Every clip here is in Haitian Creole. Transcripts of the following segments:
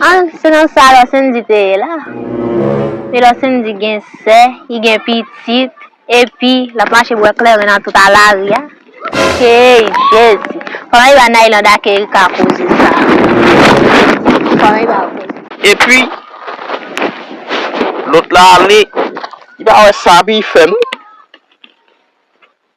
An, se nan sa Lò Sendy te ye la. E Lò Sendy gen sè, li gen pitit, epi l ap mache bwè kleren nan tout a lari a? Hey Jezi! Fò mwen ba Naïland ak Ericka koze sa a. Fò mwen ba yo koze. Epi, lòt la ale, li pa wè sa pi fè non.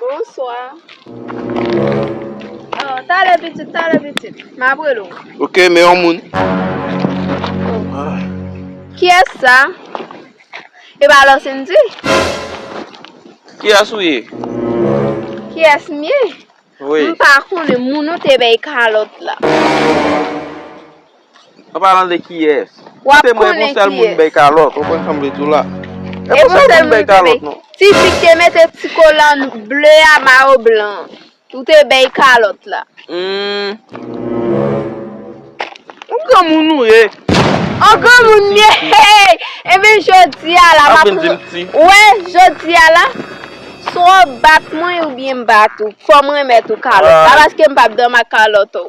Bonswa. Oh, talè pitit, talè pitit. M ap rele ou. Ok, men yon moun. Kiyès sa? E pa Lòsendi? Kiyès ou ye? Kiyès m ye? M pa konnen moun ou te bay kalòt la. An palan de kiyès. Wap konnen kiyès. Koute mwen e pou sèl moun bèy kalòt. Ou konn sa m vle di w la. E pou sèl moun bèy kalòt non. Ti fi k te mete ti kolan ble a mayo blan an. Ou te bèy kalòt la. Humm. An granmoun ou ye. An granmoun m ye hey. Ebyen jodi a la. Wap vin di m ti. Wè jodi a la. Swa w bat mwen oubyen m bat ou. Fò m renmèt ou kalòt la. Paske m pap dòmi ak kalòt ou.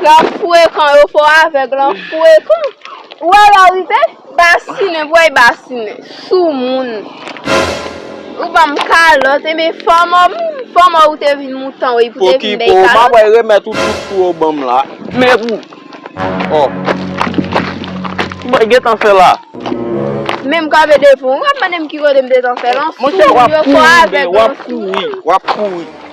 Lap frekan yo fò avèg lan frekan ou wè lè ou rive basinen vwèy basinen sou moun ou banm kalòt enben fòmò moun fòmò ou te vin moutan wèy pou te vin bèy kalòt. Pokipo map wèy remèt ou tout sou ou banm la men pou oh ki mwen gentan fè la. Menm kanpe devan ou wap mandem ki kote m te tan fè lan sou moun yo fò avèg lan sou moun. Monchè wap kouri wap kouri wap kouri.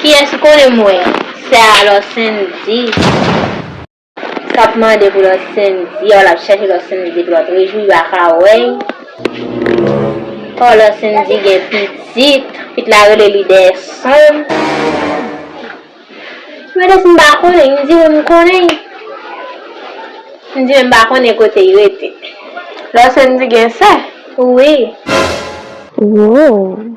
Kiyès ki konnen mwen sè a lò sendy. Kap mande pou lò sendy a w lap chèche lò sendy pou lò t rejwi li paka wè y oh lò sendy gen pitit pitit la rele li dèyè son m mete si m pa konnen y m di wi m konnen y m di men m pa konnen kote y rete lò sendy gen sè wi. Woww.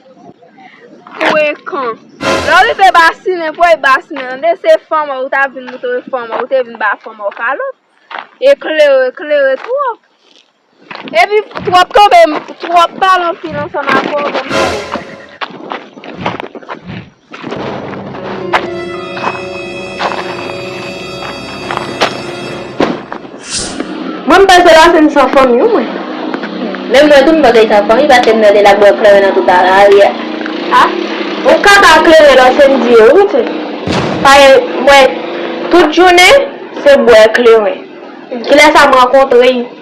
Frekan. Lè w rive basinen pou w basinen tande, se fanm ou ta vin moutre fanm ou te vin ba fanm ou kalòt. Eklere, eklere twòp. Epi twòp tonbe, twòp pale anpil ansanm avè w banm sa w wè. Mwen m panse la se m san fanmi wi mwen. Menm mwen tou m panse li san fanmi paske m tande lap bwè kleren nan tout lari a. Ah ou kaka kleren nan se m diye wi ti. Pagen mwen tout jounen se bwè kleren. Kilè sa m rankontre.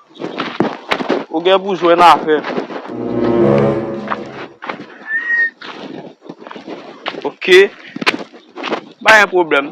Ou gen pou jwenn afè. Ok. Pa gen pwoblèm.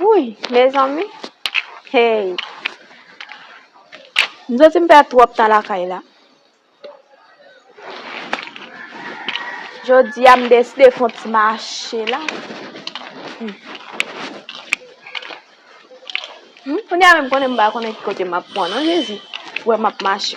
Wouyy mezanmi Hey M santi m pèd twòp tan lakay la Jodia m deside fon ti mache la Kounye a menm m konnen m pa konnen ki kote m ap pran non Jezi Wè m ap mache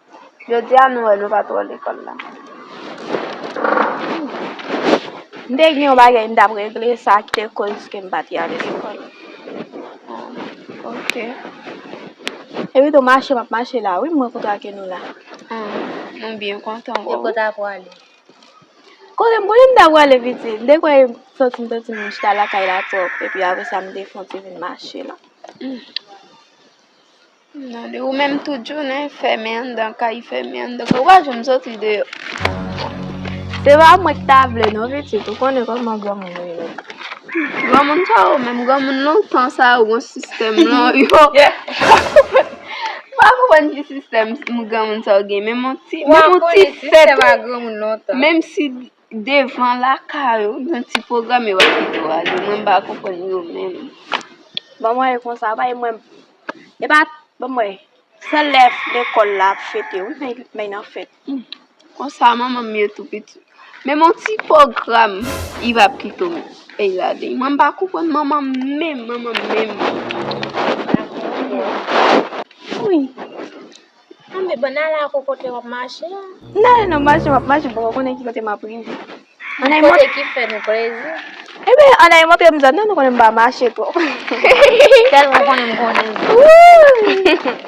Jodi a nou wè nou pa twò lekòl la. M te gen yon bagay m t ap regle sa ki te koz ke m pa te ale lekòl. Ok. Epi tou mache m ap mache la wi m mwen kontan ke nou la. M byen kontan pou ou. E kote a pou ale? Kote m konnen m ta pou ale piti. M te kwè m santi m santi m chita lakay la twòp epi apre sa m te fon ti vin mache la. Nan li ou menm tout jounen fèmen anndan kay fèmen anndan kay ou pa janm soti deyò. Se pa mwen ki ta vle non pitit ou konnen kòman granmoun yo ye. Granmoun sa yo menm granmoun lontan sa yo gon sistèm lan yo. M pa konprann ki sistèm granmoun sa yo gen menm on ti fèt menm si. Devan lakay ou gen ti pwogram yo ap kite w ale. Mwen m pa konprann yo menm. Ban mwen e konsa bay mwen. E pa ban mwen. Sèl lè lekòl la ap fete wi men men nan fèt. Konsa manman m ye tou piti. Men m on ti pwogram iv ap kite w ale. Mwen m pa konprann manman m menm. Manman m menm. Wi. Tanbe bon nal a ko kote wap mache a. M nale nan mache map mache m poko konnen ki kote map rive. Anayy montre. Kote ki fè nou plezi. Ebyen anayy montre m zòn nan nou konnen m pa mache twòp. Tèlman konnen m konnen zòn.